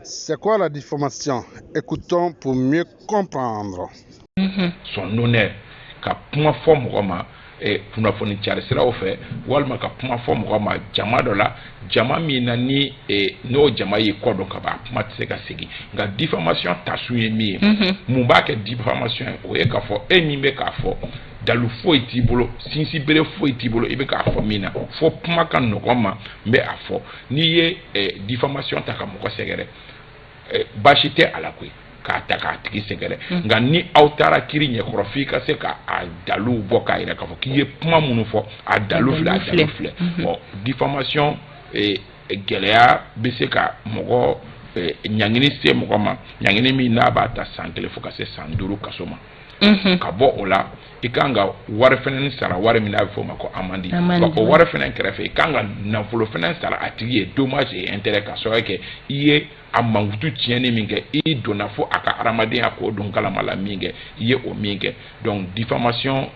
C'est quoi la diffamation Écoutons pour mieux comprendre. Mhm. Son honneur ka kuma fɔ mɔgɔ ma eh, kunnafoni cari siraw fɛ walima ka kuma fɔ mɔgɔ ma jama dɔ la jama min na ni eh, n'o jama y'i kɔ dɔn ka ban kuma tɛ se ka segin nka diffamation tasun ye min ye mhm. mun b'a kɛ diffamation ye o ye k'a fɔ e min bɛ k'a fɔ dalu foyi t'i bolo sinsinbere foyi t'i bolo i bɛ k'a fɔ min na fo kuma ka nɔgɔ n ma n bɛ a fɔ n'i ye eh, diffamation ta ka mɔgɔ sɛgɛrɛ eh, baasi tɛ a la koyi k'a ta k'a tigi sɛgɛrɛ mm. nka ni aw taara kiri ɲɛkɔrɔ f'i ka se ka a daluw bɔ k'a yira k'a fɔ k'i ye kuma minnu fɔ a dalu filɛ a dalu filɛ ɔ mm-hmm. diffamation eh, gɛlɛya bɛ se ka mɔgɔ ɲangini se mɔgɔ ma ɲangini min n'a b'a ta san kelen fo ka se san duuru kaso ma ka bɔ o la i ka kan ka wari fɛnɛ sara wari min n'a bɛ fɔ o ma ko amandi o wari fɛnɛ kɛrɛfɛ i ka kan ka nafolo fɛnɛ sara a tigi ye dommage et intérêt k'a sababu kɛ i ye a mankutu tiɲɛni min kɛ i donna fo a ka hadamadenya k'o don kalama la min kɛ i ye o min kɛ donc diffamation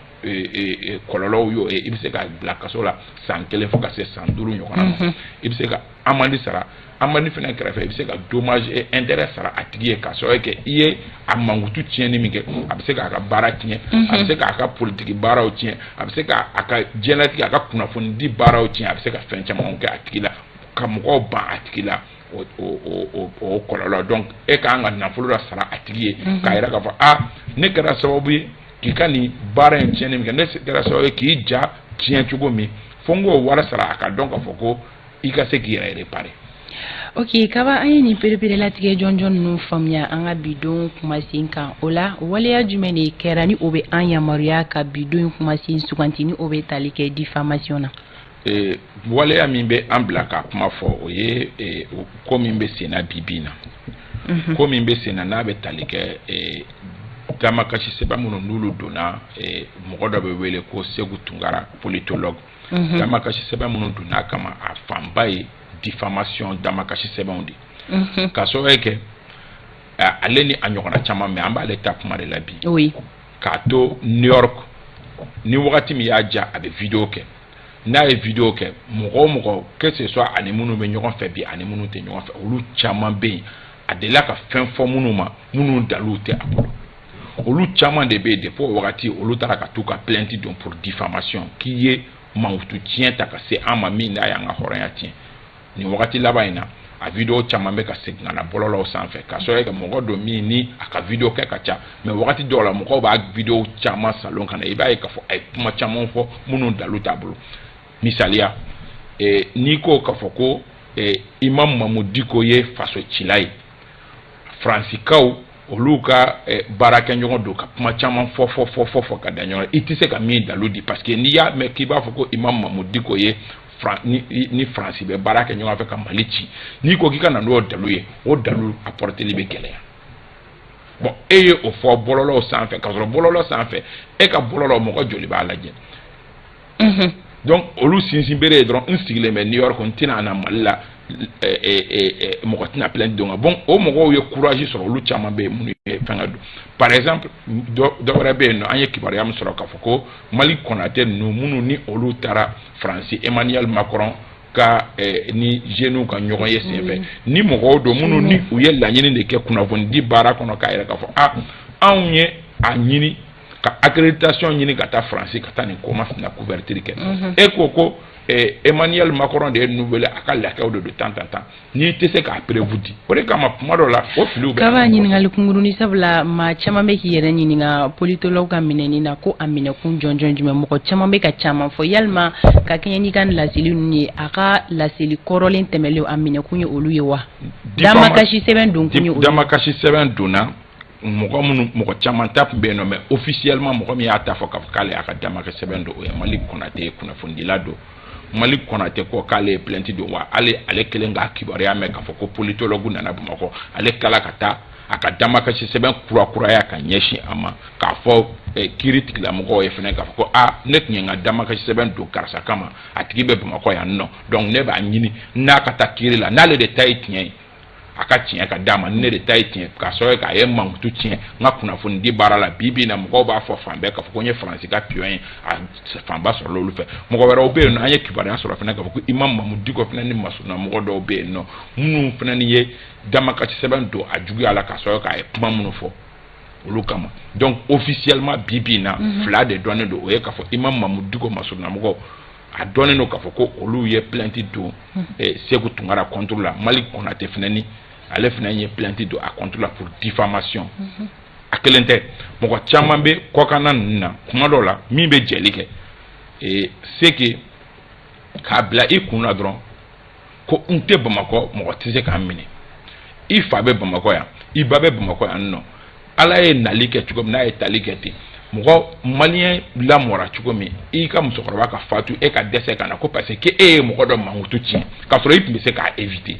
kɔlɔlɔw y'o ye i bɛ se ka bila kaso la san kelen fo ka se san duuru ɲɔgɔnna ma mhm. i bɛ se ka amandi sara amandi fɛnɛ kɛrɛfɛ i bɛ se ka dommage et intérêt sara a tigi ye k'a sababu kɛ i ye a mankutu tiɲɛni min kɛ a bɛ se k'a ka baara tiɲɛ a bɛ mhm. se k'a ka politiki baaraw tiɲɛ a bɛ se k'a ka diɲɛlatigɛ a ka kunnafonidi baaraw tiɲɛ a bɛ se ka fɛn camanw kɛ a tigi la ka mɔgɔw ban a tigi la o kɔlɔlɔ donc e ka kan ka nafolo la sara a tigi ye k'a yira k'a fɔ aa ne kɛra sababu ye k'i ka nin baara in tiɲɛni min kɛ ne kɛra sababu ye k'i ja tiɲɛ cogo min fo n k'o wari sara a ka dɔn k'a fɔ ko i ka se k'i yɛrɛ réparer ok kaba an ye nin pereperelatigɛ jɔnjɔn ninnu faamuya an ka bi don kumasen kan o la waleya jumɛn de kɛra ni o bɛ an yamaruya ka bi don kumasen suganti ni o bɛ tali kɛ diffamation na Ee waleya min bɛ an bila k'a kuma fɔ o ye e, ko min bɛ senna bi bi in na mhm. ko min bɛ senna n'a bɛ tali kɛ e, damakasi sɛbɛn minnu n'olu donna e, mɔgɔ dɔ bɛ wele ko Seku Tunkara politologue mhm. damakasi sɛbɛn minnu donna a kama a fanba ye diffamation damakasi sɛbɛnw de mhm. k'a sababu kɛ ale ni a ɲɔgɔnna caman mais an b'ale ta kuma de la bi k'a to new york ni wagati min y'a ja a bɛ video kɛ n'a ye video kɛ mɔgɔ o mɔgɔ que ce soit ani minnu bɛ ɲɔgɔn fɛ bi ani minnu tɛ ɲɔgɔn fɛ olu caman bɛ yen a delila ka fɛn fɔ minnu ma minnu dalu tɛ a bolo olu caman de bɛ yen depuis o wagati olu taara ka t'u ka plainte don pour diffamation k'i ye mankutu tiɲɛ ta ka se an ma min n'a y'an ka hɔrɔnya tiɲɛ nin wagati laban in na a video caman bɛ ka segin ka na bɔlɔlɔw sanfɛ k'a sɔrɔ ka mɔgɔ don min ni a ka video kɛ ka ca mais wagati dɔw la mɔgɔw b'a video caman salon ka na i b'a ye k'a fɔ a ye kuma caman fɔ minnu dalu t'a bolo misaliya eh, n'i ko k'a fɔ ko eh, imam mahmoud dicko ye faso cila ye faransikaw olu ka eh, baarakɛɲɔgɔn don ka kuma caman fɔ fɔ fɔ fɔ fɔ ka da ɲɔgɔn i tɛ se ka min dalu di parce que n'i y'a mɛn k'i b'a fɔ ko imam mahmoud dicko ye ni faransi bɛ baara kɛ ɲɔgɔn fɛ ka mali ci n'i ko k'i ka na n'o dalu ye o dalu apporterli bɛ gɛlɛya bon e ye o fɔ bɔlɔlɔw sanfɛ k'a sɔrɔ bɔlɔlɔ sanfɛ e ka bɔlɔlɔ mɔgɔ joli b'a lajɛ mhm. donc olu sinsin bere ye dɔrɔn n sigilen bɛ new york n tɛna na mali la mɔgɔ tɛna plainte don ka bon o mɔgɔw ye courage sɔrɔ olu caman bɛ yen minnu ye fɛngɛ don par exemple dɔ wɛrɛ bɛ yen nɔ an ye kibaruya min sɔrɔ k'a fɔ ko malick konaté ninnu minnu ni olu taara faransi emmanuel macron ka eh, ni jeunes ka ɲɔgɔn ye senfɛ mm. ni mɔgɔw don minnu ni u ye laɲini de kɛ kunnafonidi baara kɔnɔ k'a yɛrɛ k'a fɔ a ah, anw ye a ɲini ka accréditation ɲini ka taa faransi ka taa nin ko masina couverture kɛ mm-hmm. e ko ko eh, emmanuel macron de ye ninnu wele a ka laquaisw de don tan tan tan n'i tɛ se k'a preuve di o de kama kuma dɔ la o filiw bɛ kaba ɲininkali kunkurunnin sabula maa caman bɛ k'i yɛrɛ ɲininka politologue ka minɛni na ko a minɛkun jɔnjɔn jumɛn mɔgɔ caman bɛ ka caman fɔ yalima ka kɛɲɛ n'i ka laseli ninnu ye a ka laseli kɔrɔlen tɛmɛnlen a minɛkun ye olu ye wa damakasi sɛbɛn donkun ye olu ye damakasi sɛbɛn donna mɔgɔ minnu mɔgɔ caman ta tun bɛ yen nɔ mais officiellement mɔgɔ min y'a ta fɔ k'a fɔ k'ale y'a ka damakasi sɛbɛn don o ye malick konaté ye kunnafonidila don malick konaté ko k'ale ye plainte don wa ale ale kelen k'a kibaruya mɛn k'a fɔ ko politologue nana bamakɔ ale kala ka taa a ka damakasi sɛbɛn kurakuraya ka ɲɛsin a ma k'a fɔ eh, kiiritigɛlamɔgɔw ye fana k'a fɔ ko a ne tun ye n ka damakasi sɛbɛn don karisa kama a tigi bɛ bamakɔ yan nɔ donc ne b'a ɲini n'a ka taa kiiri la n'ale de ta ye tiɲɛ ye a ka tiɲɛ ka d'a ma ni ne de ta ye tiɲɛ k'a sɔrɔ k'a ye mankutu tiɲɛ n ka kunnafonidi baara la bi bi na mɔgɔw b'a fɔ fan bɛɛ k'a fɔ ko n ye faransi ka pion ye a fanba sɔrɔla olu fɛ mɔgɔ wɛrɛw bɛ yen nɔ an ye kibaruya sɔrɔ fana k'a fɔ ko imam mahmoud dicko fana ni masurunna mɔgɔ dɔw bɛ yen nɔ minnu fana ni ye damakasi sɛbɛn don a juguya la k'a sɔrɔ k'a ye kuma minnu fɔ olu kama donc officiellement bi bi na mhm. fila de dɔnnen don o ye k'a fɔ imam mahmoud dicko masurunnamɔgɔw a dɔnnen don k'a fɔ ko olu ye plainte don Sékou Tounkara contre la Malick Konaté fana ni ale fana ye plainte don a contre la pour diffamation a kelen tɛ mɔgɔ caman bɛ kɔkanna ninnu na kuma dɔw la min bɛ jɛli kɛ c'est que k'a bila i kun na dɔrɔn ko n tɛ bamakɔ mɔgɔ tɛ se ka n minɛ i fa bɛ bamakɔ yan i ba bɛ bamakɔ yan nɔ ala ye nali kɛ cogo min n'a ye tali kɛ ten mɔgɔ maliyɛn lamɔra cogo min i ka musokɔrɔba ka fatu e ka dɛsɛ ka na ko parce que e ye mɔgɔ dɔ mankutu tiɲɛ k'a sɔrɔ i tun bɛ se k'a éviter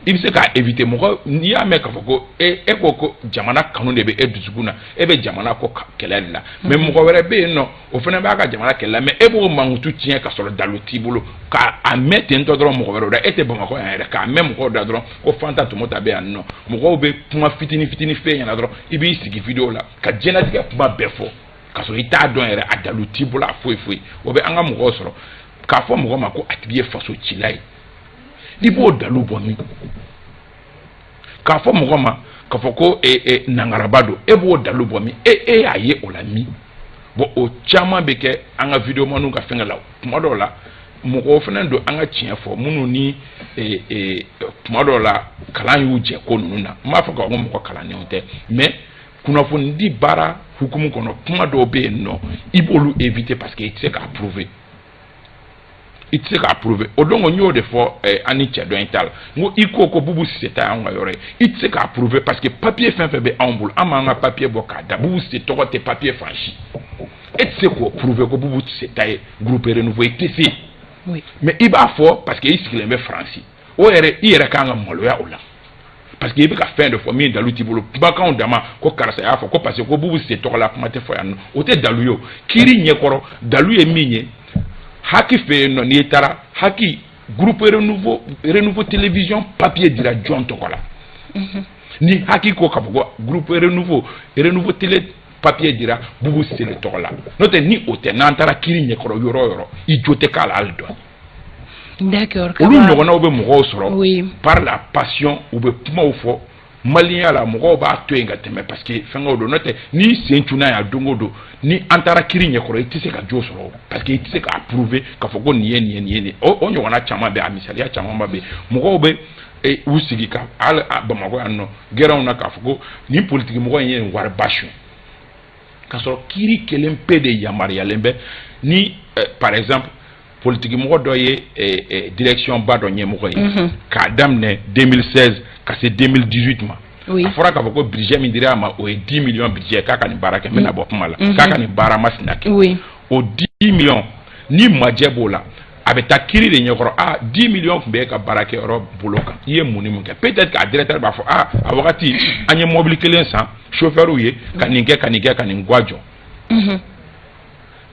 i bɛ se k'a éviter mɔgɔ n'i y'a mɛn k'a fɔ ko e e ko ko jamana kanu de bɛ e dusukun na e bɛ jamana ko kɛlɛ de la mais mɔgɔ wɛrɛ bɛ yen nɔ o fana b'a ka jamana kɛlɛ la mais e b'o mankutu tiɲɛ ka sɔrɔ dalu t'i bolo k'a mɛn ten tɔ dɔrɔn mɔgɔ wɛrɛw da e tɛ bamakɔ yan yɛrɛ k'a mɛn mɔgɔw da dɔrɔn ko fanta tɔmɔta bɛ yan nɔ mɔgɔw bɛ kuma fitini fitini f'e ɲɛna dɔrɔn i b'i sigi video la ka diɲɛlatigɛ kuma bɛɛ fɔ ka sɔrɔ i t'a dɔn yɛrɛ a dalu t'i bolo a foyi foyi o bɛ an ka mɔgɔw sɔrɔ k'a fɔ mɔgɔ ma ko a tigi ye faso cila ye i b'o dalu bɔ min k'a fɔ mɔgɔ ma k'a fɔ ko e, e, nangaraba don e b'o dalu bɔ min e e y'a ye o la min bon o caman bɛ kɛ an ka videomaniw ka fɛngɛ la kuma dɔw la mɔgɔw fana don an ka tiɲɛ fɔ minnu ni e, e, tuma dɔw la kalan y'u jɛ ko ninnu na n b'a fɔ k'a fɔ ko mɔgɔ kalannenw tɛ mais kunnafonidi baara hukumu kɔnɔ kuma dɔw bɛ yen nɔ i b'olu éviter parce que i tɛ se k'a prouver i tɛ se k'a prouver o don n y'o de fɔ eh, an ni cɛ dɔ in ta la n ko i ko ko bubu sise ta y'anw ka yɔrɔ ye i tɛ se k'a prouver parce que papier fɛn fɛn bɛ anw bolo an b'an ka papier bɔ k'a da bubu sise tɔgɔ tɛ papier fan si e tɛ se k'o prouver ko bubu sise ta ye groupe renouveau i tɛ se mais i b'a fɔ parce que i sigilen bɛ faransi o yɛrɛ i yɛrɛ kan ka maloya o la parce que i bɛ ka fɛn dɔ fɔ min dalu t'i bolo kumakanw dama ko karisa y'a fɔ ko parce que ko bubu sise tɔgɔ la kuma tɛ fɔ yan o tɛ dalu ye o kiiri ɲɛkɔrɔ dalu ye min ye haki fɛ yen nɔ n'i taara haki groupe renouveau renouveau télévision papier dira jɔn tɔgɔ la mhm. ni haki ko ka fɔ ko groupe renouveau renouveau télé papier dira bubu sise tɔgɔ la n'o tɛ ni o tɛ n'an taara kiiri ɲɛkɔrɔ yɔrɔ o yɔrɔ i jo tɛ k'a la hali dɔɔni ɲɔgɔnnaw bɛ mɔgɔw sɔrɔ par la passion u bɛ kumaw fɔ maliyɛnya la mɔgɔw b'a to yen ka tɛmɛ parce que fɛngɛ don n'o tɛ n'i sen tunna yan don o don ni an taara kiiri ɲɛkɔrɔ i tɛ se ka jo sɔrɔ parce que i tɛ se k'a prouver k'a fɔ ko nin ye nin nin ye o ɲɔgɔnna caman bɛ a misaliya caman ba bɛ mɔgɔw bɛ u sigi ka bamakɔ yan nɔ gɛrɛnw na k'a fɔ ko nin politikimɔgɔ in ye wari ba su k'a sɔrɔ kiiri kelen pe de yamaruyalen bɛ ni eh, par exemple politikimɔgɔ dɔ ye eh, eh, direction ba dɔ ɲɛmɔgɔ ye mhm. k'a daminɛ 2016 ka se 2018 ma a fɔra k'a fɔ ko budget min dira a ma o ye 10 millions budget k'a ka nin baara kɛ n bɛna bɔ kuma la mhm. k'a ka nin baara masina kɛ o 10 millions ni majɛ b'o la a bɛ taa kiri de ɲɛkɔrɔ a dix millions tun bɛ e ka baarakɛyɔrɔ bolo kan i ye mun ni mun kɛ peut-être k'a directeur b'a fɔ a a wagati an ye mɔbili kelen san sofɛriw ye ka nin kɛ ka nin kɛ ka nin ga jɔ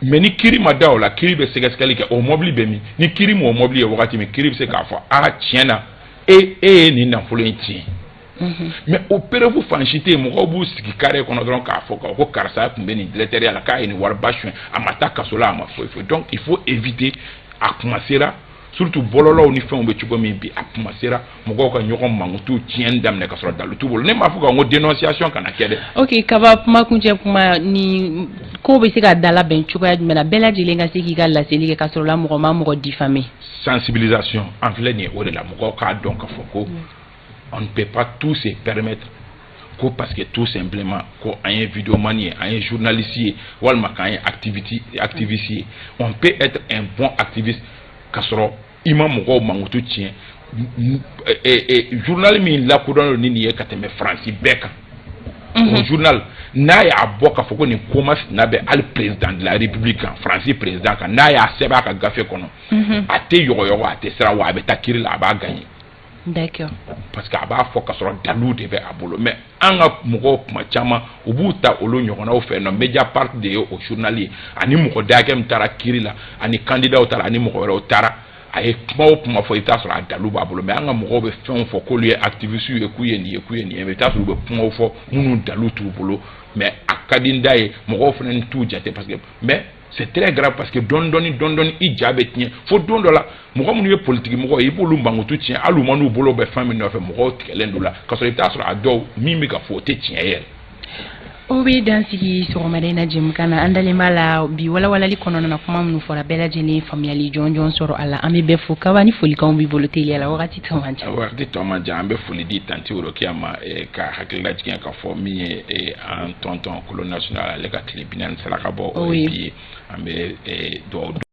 mais ni kiri ma da o la kiri bɛ sɛgɛsɛgɛli kɛ o mɔbili bɛ min ni kiri m'o mɔbili ye wagati min kiri bɛ se k'a fɔ a tiɲɛ na e ye nin nafolo in tiɲɛ Mhm. mais o preuve fan si tɛ yen mɔgɔw b'u sigi carré kɔnɔ dɔrɔn k'a fɔ ko karisa tun bɛ nin directeurya la k'a ye nin wariba suɲɛ a ma taa kaso la a ma foyi foyi donc il faut éviter a kumasera surtout bɔlɔlɔw ni fɛnw bɛ cogo min bi a kumasera mɔgɔw ka ɲɔgɔn mankutu tiɲɛni daminɛ ka sɔrɔ dalu t'u bolo ne m'a fɔ k'an ko dénonciation kana kɛ dɛ ok kaba kumakuncɛ kuma nin ko bɛ se ka dalabɛn cogoya jumɛn na bɛɛ lajɛlen ka se k'i ka laseli kɛ ka sɔrɔ la mɔgɔ ma mɔgɔ diffamer sensibilisation an filɛ nin ye o de la mɔgɔw k'a dɔn k'a fɔ ko mm. an bɛ pa tu sen pɛmeti ko pa que tu sen bilenma ko an ye vmani ye an ye zvinalisi ye walima k'an ye atibiti atifisi ye ɔ bɛ e tɛ n bɔn atibi ka sɔrɔ i ma mɔgɔw mankutu tiɲɛ zvinali min lakudɔn don ni nin ye ka tɛmɛ faransi bɛɛ kan zvinali n'a y'a bɔ k'a fɔ ko nin ko masina bɛ ali perezd larepu kan faransi perezd kan n'a y'a sɛbɛn a ka gafe kɔnɔ a tɛ yɔrɔɔgɔ a tɛ sira wa a bɛ taa kiri la a b'a gan ye d'accord parce que a b'a fɔ ka sɔrɔ dalu de bɛ a bolo mais an ka mɔgɔw kuma caman u b'u ta olu ɲɔgɔnnaw fɛ nɔ Mediapart de ye o journal ye ani mɔgɔ da hakɛ min taara kiri la ani candidatw taara ani mɔgɔ wɛrɛw taara a ye kuma o kuma fɔ i bɛ t'a sɔrɔ a dalu b'a bolo mais an ka mɔgɔw bɛ fɛnw fɔ k'olu ye activistes ye k'u ye nin ye k'u ye nin ye mais i bɛ t'a sɔrɔ u bɛ kumaw fɔ minnu dalu t'u bolo mais a ka di n da ye mɔgɔw fana t'u jate parce que mais c'est très grave parce que dɔɔni dɔɔni dɔɔni dɔɔni i ja bɛ tiɲɛ fo don dɔ la mɔgɔ minnu ye politiki mɔgɔ ye i b'olu mankutu tiɲɛ walima n'u bolo bɛ fɛn min nɔfɛ mɔgɔw tigɛlen don u la k'a sɔrɔ i bɛ taa sɔrɔ a dɔw min bɛ ka fɔ o tɛ tiɲɛ yɛrɛ. o bɛ dan sigi sɔgɔmada in na jɛmukan na an dalen b'a la bi walawalali kɔnɔna na kuma minnu fɔra bɛɛ lajɛlen faamuyali jɔnjɔn sɔrɔ a la an bɛ bɛɛ fo kaba ni folikanw b'i bolo teliya la wagati tɔ man jan. wagati tɔ man jan an bɛ foli di tanti worokiya ma eh, ka hakililajigin ka fɔ min ye eh, an tonton kolo national ale ka tile binaani saraka bɔ o ye bi ye an bɛ dugawu